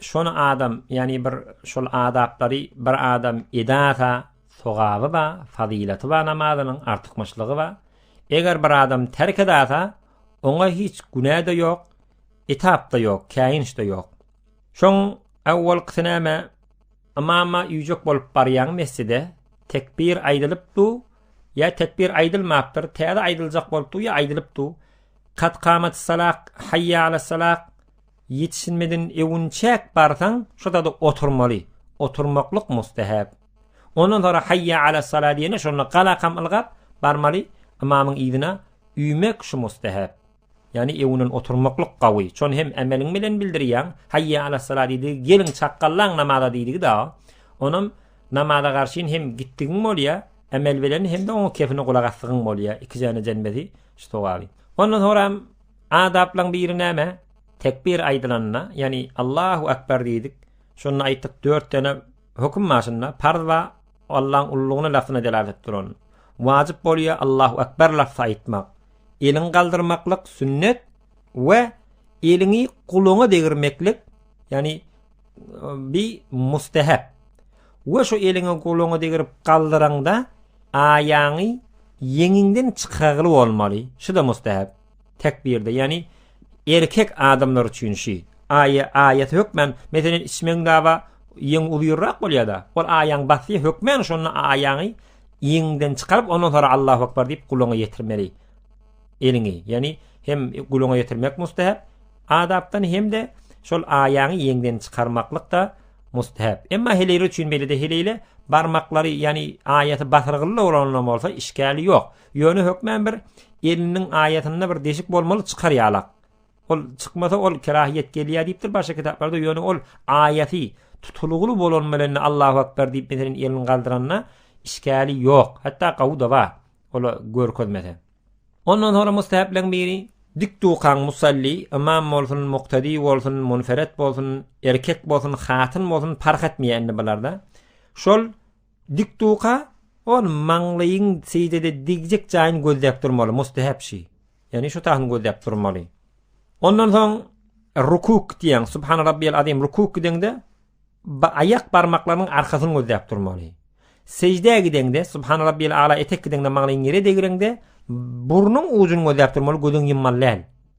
Şony adam, ýagny bir şol adaplary bir adam edasa, sogaby bar, fazylaty bar namazynyň, artykmaçlygy bar. Eger bir adam terk edasa, oňa hiç günä-de ýok, etap-da ýok, käýinç-de ýok. Şoň awwalkysy näme? Ymama üýjek bolup barýaň mesjide, tekbir aýdylyp du, ýa tekbir aýdylmapdyr, täze aýdyljak bolup du ýa aýdylyp du. Kad kamatys-salah, haýýa alas-salah. Ýetişilmeden ewünçäk barsaň, şo zada oturmaly. Oturmaklyk mustahap. Ondan soňra haýýa alas sala diýende şonda galakam ylgap, barmaly, ymamyň yzyna üýmek şu mustahap. Ýagny ewünden oturmaklyk gawy. Şony hem emeliň bilen bildirýäň. Haýýa alas sala diýdigi geliň çakgallaň namaza diýdigi dagy. Onam namaza garşyn hem gitdigiň bolýa, emel bilen hem-de oňa kefine gulak asdygyň bolýa. Iki jana jemlesi şu sogaby. Ondan soňram Adaplaryň biri näme? Tekbir aýdylanda, ýagny Allahu akbar diýdik. Şonda aýtdyk 4 dene höküm maşynda farz we Allah'yň ullugyny lafzyna delalet duran. Wajyp bolýar Allahu akbar lafzy aýtmak. Eliň galdyrmaklyk sünnet we eliňi guluňa degirmeklik, ýagny bi mustahab. We şu eliňi guluňa degirip galdyraňda aýaňy ýeňiňden çykargyly bolmaly. Şu da mustahab. tekbirde, ýagny erkek adamlar üçin şi, aýa, aýat hökmän, meselen, içmegiň daba ýeň uzyrrak bolýada, ol aýaň basy hökmän şonda aýaňy ýeňden çykaryp, ondan sonra Allahu akbar diýip gulaňa ýetirmeli eliňi, ýagny hem gulaňa ýetirmek mustahap adapdan hem-de şol aýaňy ýeňden çykarmaklyk da mustahap. Emma heleýler üçin beýlede heleýle barmaklary, ýagny aýaty basyrgylla bolanlar bolsa işgäli ýok. Ýöne hökmän bir eliniň aýasynda bir deşik bolmaly çykar ýalak. Ol çykmasa ol kerahiýet gelýär diýipdir başga kitaplarda ýöne ol aýasy tutulgyly bolan bilen Allahu akbar diýip meselen elini galdyranda işgäli ýok. Hatda gawy da bar. Ola görkezmese. Ondan soňra mustahaplygyň biri dik dukan musalli ymam bolsun, muktady bolsun, munferet bolsun, erkek bolsun, hatyn bolsun parh etmeýär indi bularda. Şol Dik duka, ol maňlaýyň seýdede degjek jaýyny gözläp durmaly, mustehep şy. Ýagny şu tahyny gözläp durmaly. Ondan soň rukuk diýen, subhana rabbiyal azim rukuk gideňde aýak barmaklarynyň arkasyny gözläp durmaly. Sejdä gideňde subhana rabbiyal ala etek gideňde maňlaýyň ýere degireňde burnuň ujuny gözläp durmaly, gözüňi ýummaly däl.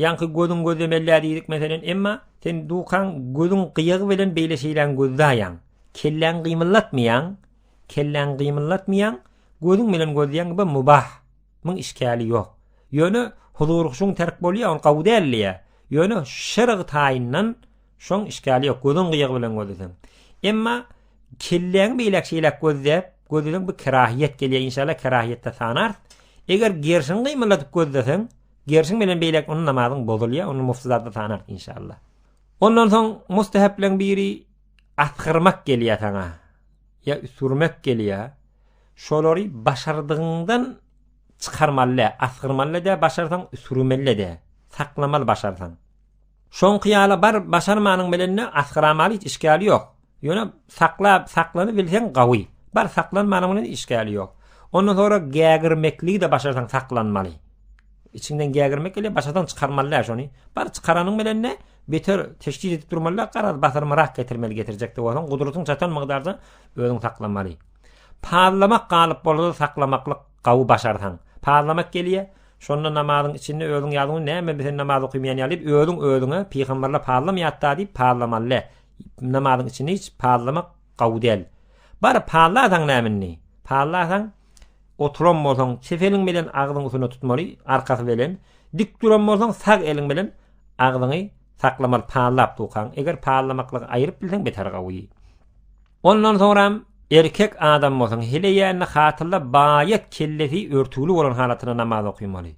Ýaňky gözüň gözlemellä diýdik meselen, emma sen dukaň gözüň gyýagy bilen beýle şeýläň gözläýäň. Kelläň gymyllatmaýaň, kelläň gymyllatmaýaň, gözüň bilen gözleýäň bu mubah. Muň işkali ýok. Ýöne huzur-huşuň terk bolýa, ol gowy dälliýä. Ýöne şerg taýyndan şoň işkali ýok, gözüň gyýagy bilen gözleseň. Emma kelläň beýläk şeýläk gözläp, gözleseň bu kerahiýet gelýä, inşallah kerahiýetde sanars. Eger gerşiň gymylladyp gözleseň, Gerşiň menden beýläk ony namazyň bozulýar, ony mufsydada sanak inşallah. Ondan soň mustahapleň biri asgyrmak gelýär saňa. Ýa üsürmek gelýär. Şolary başardygyňdan çykarmaly, asgyrmaly-da, başarsaň üsürmeli-de, saklamaly başarsaň. Soňky ýala baryp başarmanyň bilenle asgyramaly hiç işgäli ýok. Ýöne saklap, saklanybilseň gawy. Bar saklanmanyň bilen işgäli ýok. Ondan soňra gägirmekligi-de başarsaň saklanmaly. Içiňden gägirmek gelýär, başarsaň çykarmaly däl şony. Bar çykaranyň bilenle beter teşhis edip durmaly däl, garaz basyrmarak getirmeli getirjek-de bolsaň, gudratyň çatan mygdarda özüň saklamaly. Pazlamak galyp bolsa-da saklamaklyk Gawy başarsaň. Parlamak gelýär, şonda namazyň içinde özüň ýazuň, näme sen namaz okymaýan ýaly diýip, özüň özüňe pygamberler parlamaýatda diýip parlamaly. Namazyň içinde hiç parlamak gawy däl. Baryp parlasaň näme indi? Parlasaň oturan bolsaň, çep eliň bilen agzyň üstüne tutmaly, arkasy bilen, dik duran bolsaň sag eliň bilen agzyňy saklamaly parlap durkaň. Eger parlamaklygy aýryp bilseň beter gawy. Ondan soňram erkek adam bolsaň hile ýände hatynda baýat kellesi örtügli bolan halatynda namaz okymaly.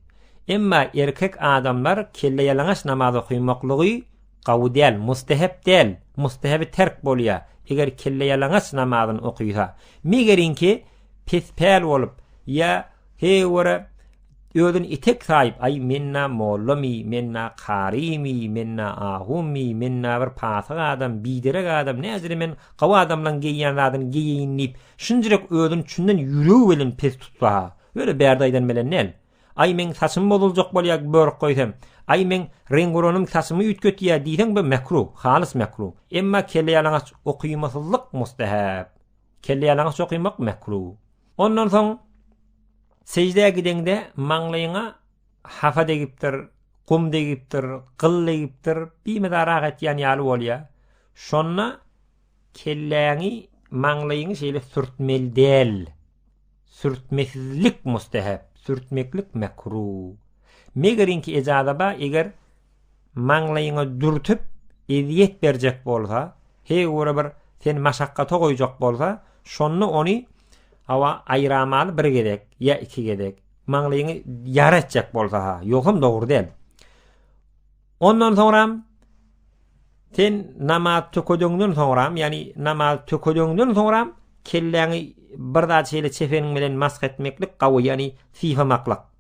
Emma erkek adamlar kelleýalaňaç namaz okymaklygy gawy däl, mustehep däl, mustehebi terk bolýar, eger kelleýalaňaç namazyny okysa. Megerinki pes päl bolup ýa heý görä Özün etek saýyp aý men-ä mollamy, men-ä karymy, men-ä ahumy, men-ä bir pasyk adam, biderek adam, näzire men gowy adamlaň geýýän zadyny geýeýin diýip, şunjyrek özün çünden ýüregi bilen pes tutsa-ha, öle bärde aýdan bilen däl. Aý meň saçym bozuljak bolýa börk goýsam, aý meň reňguranym saçymy üýtgetýä diýseň bu mekruh, halys mekruh. Emma kelleýalaňaç okymasyzlyk mustahap. Kelleýalaňaç okymak mekruh. Ondan soň seždä gideňde maňlaýyňa hapa degipdir, gum degipdir, gyl degipdir, bimydar ah etýän ýaly bolýar. Şonda kelläňi, maňlaýyňy şeýle sürtmeli däl. Sürtmesizlik mustehep, sürtmeklik mekruh. Megeriňki ejaza bar, eger maňlaýyňa dürtüp, ezýet berjek bolsa, heý göre bir seni maşakgata goýjak bolsa, şonda ony hawa aýramaly bir gezek ýa iki gezek. Maňlaýyňy ýara etjek bolsa-ha, ýogsam dogry däl. Ondan soňram sen namaz tökedeňden soňram, ýagny namaz tökedeňden soňram kelläňi bir zat şeýle çefeniň bilen mask etmeklik gawy, ýagny sypamaklyk.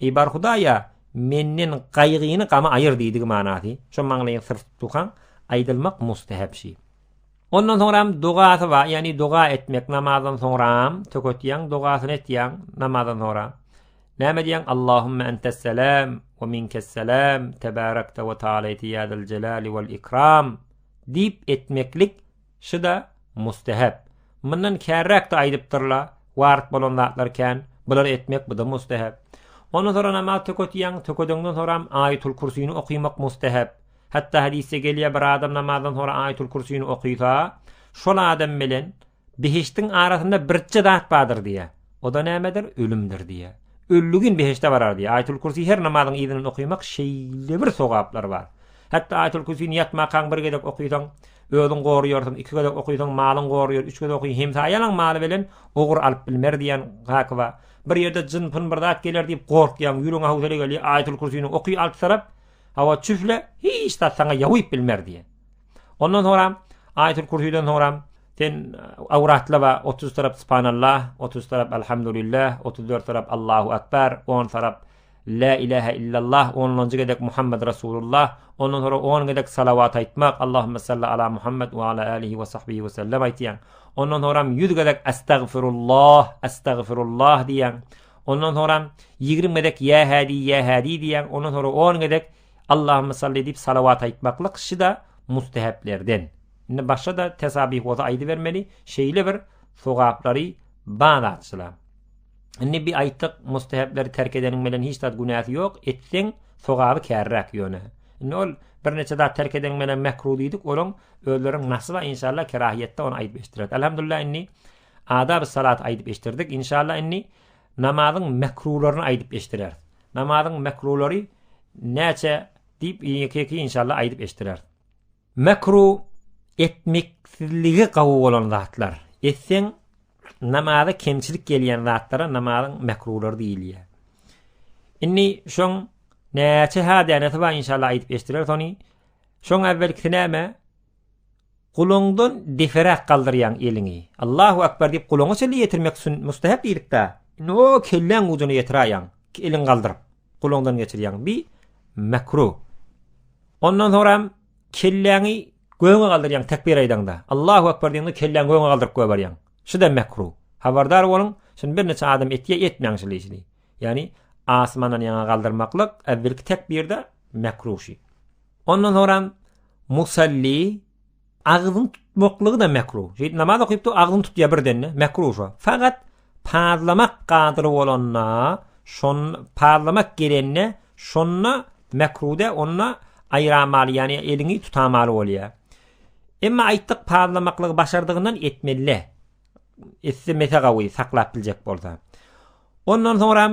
Eý, bar Hudaý-a, menden gaýgyny, gamy aýyr diýdigi manasy. Şo maňlaýyň syr tutukaň aýdylmak mustahap şi. Ondan soňram dogasy bar, ýagny doga etmek namazdan soňram, töketýäň dogasyny etýäň namazdan soňra. Näme diýýäň? Allahumma ente's-selam we minke's-selam, tebarakta we ta'alayta ýa zal jalali wal ikram diýip etmeklik Şy-da mustehep. Mundan kärräk-de aýdypdyr-la, Waryp bolan zatlar kän, bulary etmek bu-da mustehep. Ondan soň namaz töketýäň, tökedeňden soňam Aýatul-Kürsini okymak mustehep. Hatda hadysda gelýär, bir adam namazdan soňra Aýatul-Kürsini okysa, şol adam bilen behişdiň arasynda birje zat bardyr diýýär. O-da nämedir, ölümdir diýýär. Ölügin beheşde barar diýýär. Aýetül-Kürsi her namazyň yzyndan okaýmak şeýlebir sogaplary bar. Hatda Aýetül-Kürsini ýatmakaň bir gezek okaýsaň, özüň goraýarsyň, iki gezek okaýsaň, malyň goraýar, üç gezek okaýsaň, hemsaýalaň maly bilen ogur alyp bilmer diýýän haky bar. Bir ýerde jyn-pyn bir zat geler diýip gorkýaň, ýüregiňe howsala gelýär, Aýetül-Kürsini oky alty tarap, hawa, çüfle, hiç zat saňa ýawyp bilmer diýýär. Ondan sonra Ayetül Kürsüden sonra sen avratla ve 30 taraf Subhanallah, 30 taraf Elhamdülillah, 34 taraf Allahu Ekber, 10 taraf La ilahe illallah, onlanjy gezek Muhammed Rasulullah, ondan sonra on gezek salavat aytmak, Allahümme salli ala Muhammed ve ala alihi ve sahbihi ve sellem aytyan. Ondan sonra yüz gezek estağfirullah, estağfirullah diyan. Ondan sonra 20 gezek ya hadi ya hadi diyan. Ondan sonra on gezek Allahümme salli diýip salawat aýtmaklyk şida musteheplerden. Indi başga-da tesabih bolsa aýdybermeli, şeýle bir sogaplary bar zatçylar. Indi bir aýtdyk, mustehepleri terk edeniň bilen hiç zat günäsi ýok, etseň sogaby kärräk ýöne. Indi ol birnäçe zat terk edeniň bilen mekruh diýdik, olaň özleriň nasyba inşallah kerahiýetde ony aýdyp eşitdirek. Elhamdülillah indi adab-salat aýdyp eşitdirdik. Inşallah indi Namazyň mekruhlaryny aýdyp eşdireris. Namazyň mekruhlary näçe diýip ýeke-ýeke inşallah aýdyp eşdireris. Mekruh etmeksizligi gawy bolan zatlar. Etseň namaza kemçilik gelýän zatlara namazyň mekruhlary diýilýär. Indi şoň näçe ha dänesi bar inşallah aýdyp eşdireris ony. Şoň äwelkisi näme? Gulagyňdan deperäk galdyrýaň eliňi. Allahu akbar diýip gulagyňa çenli ýetirmek sün, mustahep diýdik-dä. Indi o kelläň ujuna ýetiräýýäň, iki eliňi galdyryp, gulagyňdan geçirýäň. Bi mekruh. Ondan soňram kelläňi göge galdyrýaň tekbir aýdaňda. Allahu akbar diýende kelläňi göge galdyryp goýberýäň. Şu-da mekruh. Habardar boluň, şuny birnäçe adam etýär, etmäň şul işini. Ýagny asmandan ýaňa galdyrmaklyk, äwwelki tekbirde mekruh şu. Ondan soňram musalli agzyny tutmaklygy-da mekruh. Şeýdip namaz okypdy, agzyny tutýar birden-de, mekruh şo. Fakat pazlamak gadyry bolanda, şon pazlamak gelende, şonda mekruhda, onda aýramaly, ýagny eliňi tutamaly bolýar. Emma aýtdyk pazlamaklygy başardygyndan etmeli. Etse mese gawy saklap biljek bolsa. Ondan soňram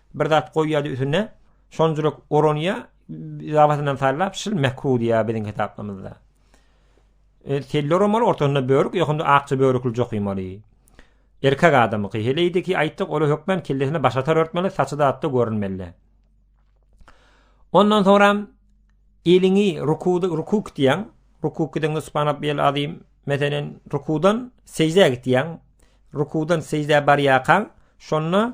Bir zat goýýardy üstüne. Şon jürek oranýa zabasyndan sallap şil mekru diýýär biziň kitaplarymyzda. E, telli oramaly ortasynda börük, ýokunda akja börükli jokymaly. Erkek adamyky heleýdi ki, aýtdyk, ola hökmen kellesine baş atar örtmeli, saçy da atda görünmeli. Ondan soňra eliňi rukuda rukuk diýen, rukuk diýen subhanallah bil azim, meselen rukudan sejdä gitýän, rukudan sejdä barýarkan, şonda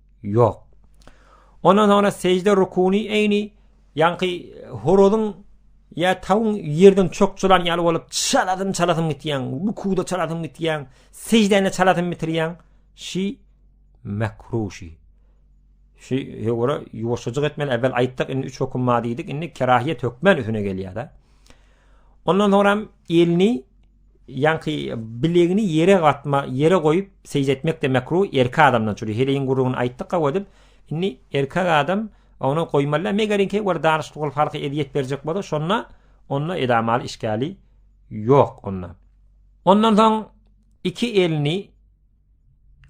Ýok. Ondan soňra sežde rukuny eýni ýaňky horozyň ýa tawuň ýerden çokçulan ýaly bolup çaladym çalasym gitýän, rukuda çalasym gitýän, seždäni çalasym bitirýän. Şi makruşi. Şi ýora ýuwaşjyk etmeli. Äwel aýtdyk, indi üç höküm bar diýdik. Indi kerahiýet hökmän üstüne gelýär-de. Ondan soňra elini Ýaňky bilegini ýere gatma, ýere goýup seýje etmek-de mekruh, erkek adamdan çüri. Heleýiň gürrüňini aýtdyk gowy edip. Indi erkek adam ony goýmaly, megerenki bir danyşykly bolup halka ezýet berjek bolsa, şonda onda edamaly işgäli ýok onda. Ondan soň iki elini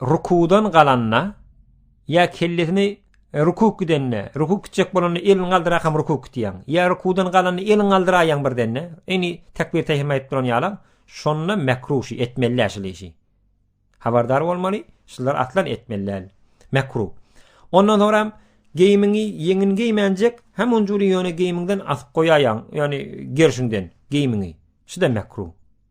rukuwdan galanda ýa kellesini e, rukuw gidende, rukuw gitjek bolanda elini galdyrak hem rukuw gitýäň. Ýa rukuwdan galanda elini galdyraýaň birdenne. Eni tekbir tehrim aýdyp duran ýalam, şonda mekruh şu etmeli şol işi. Habardar bolmaly, şular aslan etmeli. Mekruh. Ondan soňra geýimiňi ýeňin geýmänjek, hem onjuly ýöne geýimiňden asyp goýaýaň, ýöne gerşiňden geýimiňi. Şu da mekruh.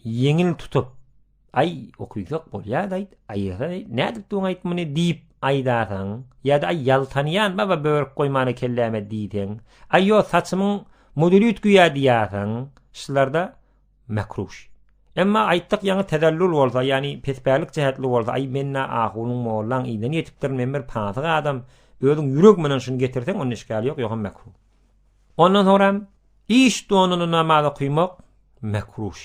Ýeňin tutup, Aý, okyjak bolýa-daý, aýyra, nädip duň aýt muny diýip aýdarsyň, ýa-da Aý, ýaltanýan baba börük goýmana kelläme diýseň, Aý, ýo, saçymyň moduly üýtgýä diýersiň, şular-da mekruh. Emma aýtdyk ýaňy tezellul bolsa, ýagny pespälik jähetli bolsa, Aý, men-ä ahunyň, mollaň yzyndan ýetipdirin, men bir pasyk adam, özüň ýürek menen şuny getirseň, onda işgäl ýok, ýogsam mekruh. Ondan soňra hem iş donuny namaz okymak mekruh.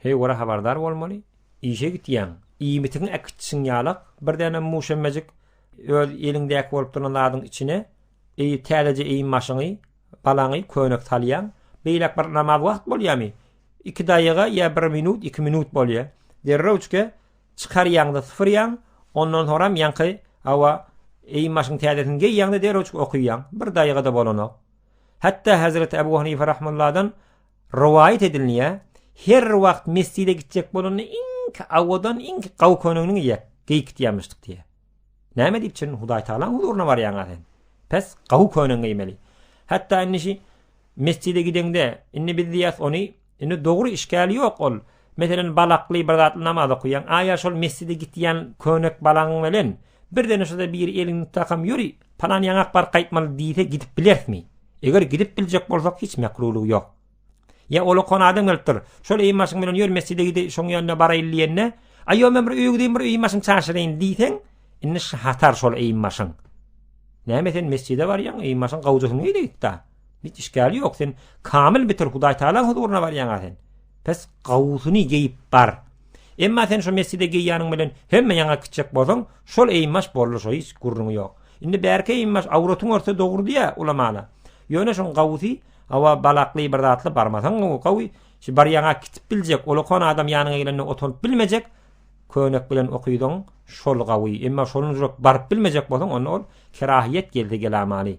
Heý görä habardar bolmaly. Işe gitýäň, iýmitiňi äkitjisiň ýalak, birdenem muşemmejik öz eliňdäki bolup duran zadyň içine eý täzeje eýim-başyňy, balaňy köýnek salýaň. Beýläk bir namaz wagt bolýamy? Iki daýyga ýa bir minut, iki minut bolýa. Derrewçge Çykarýaňda sypyrýaň, ondan soňram ýaňky hawa eýin başyň täzesini geýýäňde derewçik okaýaň, bir daýga-da bolanok. Hatda Hazreti Abu Hanife rahmulladan rowaýat edilnýär, her wagt mesjide gitjek bolanda iňki awadan, iňki gawy köýnegini geýip gitýämişdik diýýär. Näme diýip çyn Hudaý Tagalaň huzuryna barýaňa sen? Pes gawy köýnegi geýmeli. Hatda indi şi mesjide gideňde, indi biz diýýäs ony Indi dogry işgäli ýok ol. Meselen, balakly bir zatly namaz okaýaň, a ýa şol mesjide gitýän könek balaň bilen birdene şuda biri eliňi tutakam ýöri, palan ýaňak baryp gaýtmaly diýse gidip bilerismi? Eger gidip biljek bolsak hiç mekrulygy ýok. Ýa ol okan adam gelipdir, şol eý maşyn bilen ýör mesjide gidi şoň ýanyna baraýyl diýende, a ýok men bir öýe gideyim bir öýi maşyn çaşyraýyn diýseň, indi şatar şol eý maşyn. Näme sen mesjide barýaň, eý maşyn gawja hüňe-de gitda. Hiç işgäli ýok sen kamil bitir Hudaý Taala huzuryna barýaňa sen. Pes gawusyny geýip bar. Emma sen şu mesjide geýýäniň bilen hemme ýaňa gitjek bolsaň, şol eýmaş boldy şo hiç gürrüňi ýok. Indi bärki eýmaş awratyň örtse dogry diýä ulamana. Ýöne şoň gawusy awa balakly bir zatly barmasaň gowy gawy. Şu barýaňa gitip biljek, olakon adam ýanyňa gelende oturyp bilmejek. Könek bilen okydyň, şol gawy. Emma şonuň jürek baryp bilmejek bolsaň, onda ol kerahyýet geldi gelamany.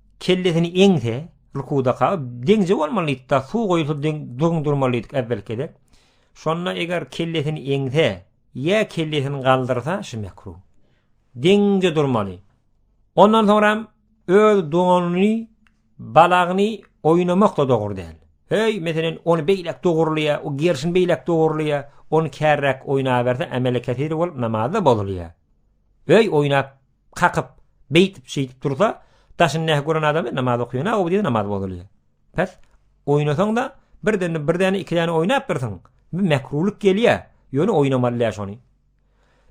Kellesini eňse, rukuda kagyp, deňze bolmalydyda, suw goýulsa deň durgun durmalydyk äwwelki gezek. Şonda eger kellesini eňse, ýa kellesini galdyrsa, şu mekru. Deňze durmaly. Ondan soňra öz doganyny, balagyny oýnamak da dogry däl. Hey, meselen, ony beýlek dogurlyýa, o gerşini beýlek dogurlyýa, ony kärräk oýnaberse, ämeli kesir bolup namazda bozulýa. Hey, oýnap, kakyp, beýtip, şeýdip dursa, daşyny nähak gören adam namaz okaýan aw diýip namaz bozulýar. Pes oýnasaň-da, birden bir däne iki däne oýnap dursaň, bir mekrulyk gelýär. Ýöne oýnamaly däl şony.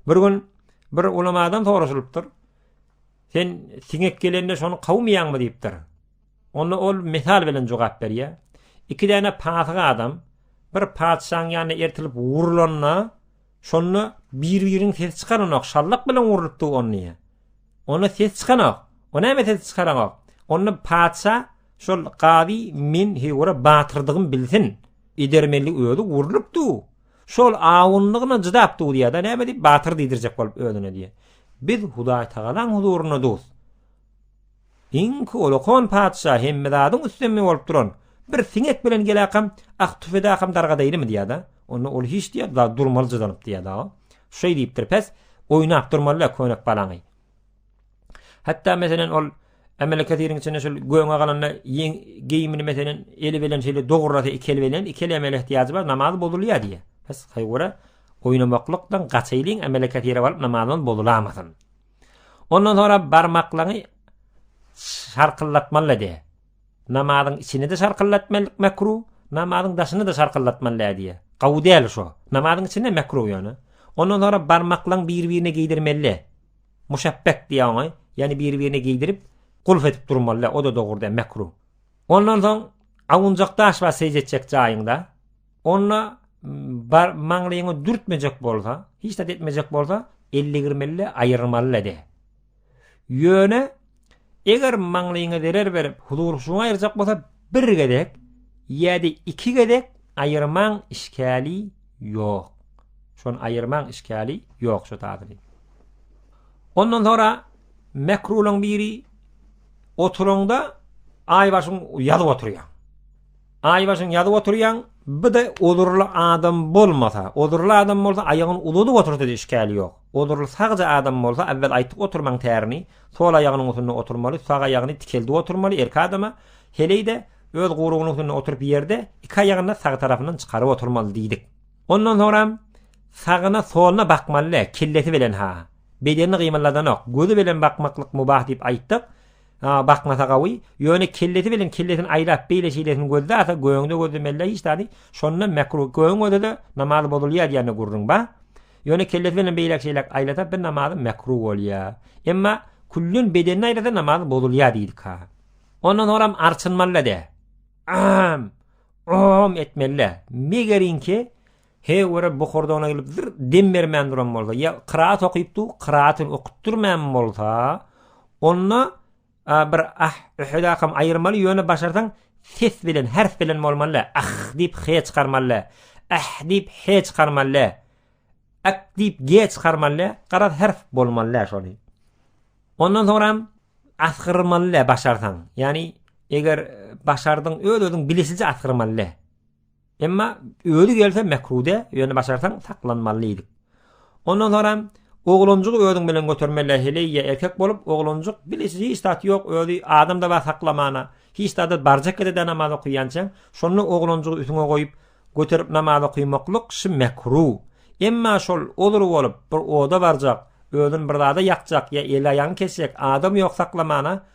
Bir gün bir ulamadan soraşylypdyr. Sen siňek gelende şony kawmaýaňmy diýipdir. Onda ol misal bilen jogap berýär. Iki däne patyga adam bir patyşaň ýanyna ertilip urulanda Şonda bir-biriň ses çykaranok, şallak bilen urlup dur on diýýä. Onda ses çykanok. O näme ses çykaranok? Onda patyşa şol gazy men hewra batyrdygym bilsin. Edermeli özi urlup dur. Şol awunlygyna jydap dur diýýä-de, näme diýip batyr diýdirjek bolup özüne diýýä. Biz Hudaý Tagalaň huzuryna dur. Iň holokon patyşa hemme zadyň üstemi bolup duran bir siňek bilen geläkam ak tüfedäkam dargadaýlymy diýýäda. Onda ol hiç diýýä da durmaly jydanyp diýýäda. Şeý diýipdir pes oýnap durmalyda könek balaňy. Hatda meselen ol Emele kesiriň içinde şol göňe galanda ýeň geýimini meselen eli bilen şeýle dograsa iki el bilen iki el emele ihtiýajy bar namaz bozulýa diýýä. Pes haýwara oýnamaklykdan gaçaýlyň emele kesire baryp namazymyz bozulamasyn. Ondan sonra barmaklaňy şarkyldatmalydy. Namazyň içini de şarkyldatmalyk mekru, namazyň daşyny da şarkyldatmalydy diýe. Gawy däl şu. Namazyň içinde mekru ýöne. Ondan sonra barmaklaň bir-birine giydirmeli. Muşabbek diýe oňa, ýani bir-birine giydirip, gulf edip durmaly, o da dogry däl, mekru. Ondan soň awunjak daş bar seýjetjek jaýyňda. Onda bar maňlyňy dürtmejek bolsa, hiç zat etmejek bolsa, 50 girmeli, aýyrmaly lede. Ýöne eger maňlyňy zerer berip, huzur şuňa aýyrjak bolsa, bir gezek ýa-da iki gezek aýyrmaň işgäli ýok. Şon aýyrmaň işgäli ýok şu taýyny. Ondan sonra mekrulyň biri oturanda aýbaşyň ýazyp oturýar. Aýbaşyň ýazyp oturýaň, bide ozurly adam bolmasa, ozurly adam bolsa aýagyny uzadyp otursa-da işgäli ýok. Ozurly sagja adam bolsa, awwel aýtyp oturmaň tärini, sol aýagynyň usunda oturmaly, sag aýagyny tikeldip oturmaly, erki adama, heleý-de, öz gurugynyň usunda oturyp ýerde, iki aýagyny-da sag tarapyndan çykaryp oturmaly diýdik. Ondan soňram, sagyna, soluna bakmaly-le, kellesi bilen-ha. Bedenini gymyldadanok, gözi bilen bakmaklyk mubah diýip aýtdyk. Aa bakmasa gawy, ýöne kellesi bilen kellesini aýlap beýle şeýlesini gözde asa göňde gözlemelle hiç zady, şonda mekruh göň özede namaz bozulýa diýende gurruň ba. Ýöne kellesi bilen beýläk şeýläk aýlasa bir namazy mekruh bolýa. Emma küllen bedenini aýlasa namaz bozulýa diýdika. Ondan soňram arçynmalla de. Aam! Oom etmelle. Megerinki He görä bu hordogyna gelip zir dem bermän duran bolsa, ýa kyraat okyp dur, kyraatyn okup durmän bolsa, onda a bir ah öhedakam aýyrmaly, ýöne başarsaň ses bilen, herf bilen bolmaly, ah diýip he çykarmaly, ah diýip he çykarmaly, ak diýip ge çykarmaly, garaz herf bolmaly şony. Ondan soňram asgyrmaly başarsaň. Ýani eger başardyň öz-özüň bilisije asgyrmaly. Emma özi gelse mekrude, ýöne başarsaň saklanmaly diýdik. Ondan soňam oglanjygy özüň bilen götermeli, heleýe erkek bolup, oglanjyk bile hiç zat ýok, özi adamda bar saklamana, hiç zada barjak ýerde namaz okaýançaň, şonda oglanjygy üstüňe goýup, göterip namaz okaýmaklyk şi mekru. Emma şol ozur bolup, bir oda barjak, özün bir zada ýakjak ýa eli-aýagyny kesjek, adam ýok saklamana,